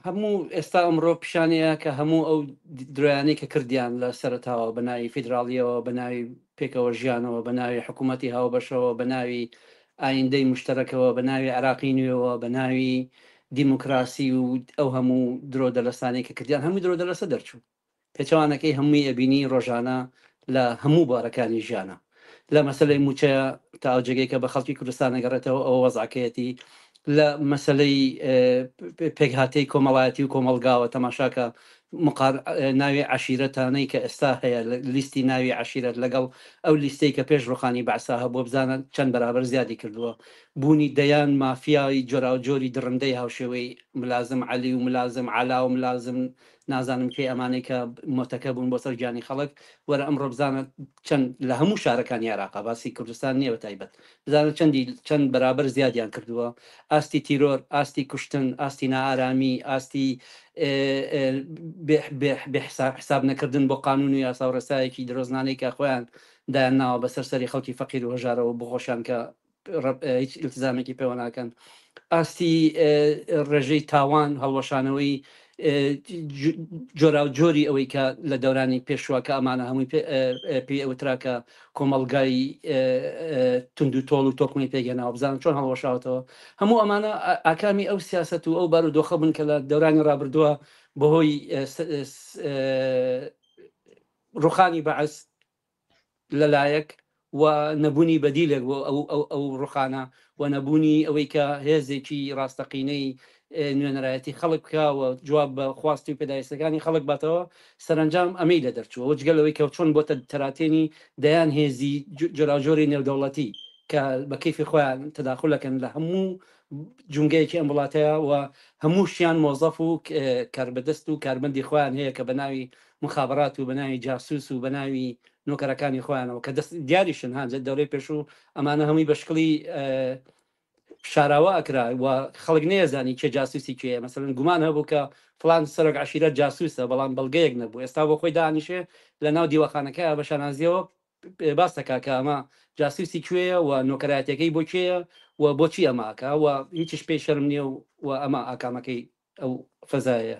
هەموو ئێستا ئەمڕۆ پیشانەیە کە هەموو ئەو درۆیانەی کە کردیان لە سەرتاوە بە ناوی فیدراالیەوە بە ناوی پێکەوە ژیانەوە بە ناوی حکوومەتتی هاوبەشەوە بە ناوی ئایندەی مشتەرەکەوە بە ناوی عراقی نوێەوە بە ناوی دیموکراسی و ئەو هەموو درۆ دەلەسانەی کە کردیان هەموو درۆ دەلەسە دەرچوو پێچەوانەکەی هەمووی ئەبینی ڕۆژانە لە هەموو بوارەکانی ژیانا لە مەسەلەی مووچەیا تا ئەو جێگەی کە بە خەڵکی کوردستان ئەگەڕێتەوە ئەوە وەزعەکەیەتی لە مەسەلەی پێکهاتەی کۆمەڵایەتی و کۆمەڵگاوە تەماشاکە مقار ناوی عشیرەتانەی کە ئێستا هەیە لیستی ناوی عشیرەت لەگەڵ ئەو لیستەی کە پێش ڕوخانی بەعسا هەبووە بزانە چەند بەرابەر زیادی کردووە بوونی دەیان مافیاوی جۆراوجۆری دڕندەی هاوشێوەی ملازم علی و ملازم علا و ملازم نازانم کەی ئەمانەی کە مۆتەکە بوون بۆ سەر گیانی خەڵک وەرە ئەمڕۆ بزانە چەند لە هەموو شارەکانی عێراقا باسی کوردستان نییە بە تایبەت بزانە چەندی چەند بەرابەر زیادیان کردووە ئاستی تیرۆر ئاستی کوشتن ئاستی نائارامی ئاستی حساب نەکردن بۆ قانون و یاسا و ڕێسایەکی درۆزنانەی کە خۆیان دایان ناوە بەسەر سەری خەڵکی فەقیر و هەژارەوە بۆ خۆشیان کە هیچ ئیلتزامێکی پێوە ناکەن ئاستی ڕێژەی تاوان هەڵوەشانەوەی جۆرا و جۆری ئەوەی کە لە دەورانی پێشوە کە ئەمانە هەمووی پێ ئەوتراکە کۆمەلگای تونند و تۆڵ و تۆکمی پێگەناوە بزانن چۆن هەڵوەشاوتەوە هەموو ئەمانە ئاکامی ئەو سیاست و ئەو بار و دۆخە بن کە لە دەورانی ڕابردووە بەهۆی ڕوخانی بەعس لەلایەک و نەبونی بەدیلێک بۆ ئەو ڕوخانە و نەبونی ئەوەی کە هێزێکی ڕاستەقینەی نوێنەرایەتی خەڵک بکا و جواب بە خواستی و پێداویستەکانی خەڵک باتەوە، سەرەنجام ئەمەی لە دەرچووە و جگە لەوەی کە چۆن بۆتە تەراتێنی دەیان هێزی جۆراوجۆری نێودەوڵەتی کە بە کەیفی خۆیان تەداخول ئەکەن لە هەموو جومگەیەکی ئەم وڵاتەیا و هەمووشیان مۆزەف و کاربەدەست و کارمەندی خۆیان هەیە کە بە ناوی موخابەرات و بەناوی جاسوس و بەناوی نۆکەرەکانی خۆیانەوە کە دەست دیاریشن ها دەورەی پێشوو ئەمانە هەمووی بە شکڵی شاراوە ئەکرا و خەڵک نێزانی کێ جاسوسی کێ مەسەرن گومان هەبوو کە فلان سەرۆک عشیرە جاسوسە بەڵام بەڵگەیەک نەبوو ئێستا بۆ خۆی دانیشێ لە ناو دیوەخانەکە بە شانازیەوە باس دەکا کە ئەمە جاسوسی کوێیە و نۆکەراتەکەی بۆ کێیە و بۆچی ئەماکە و هیچش پێی شەرم نییە و ئەمە ئاکامەکەی ئەو فەزایە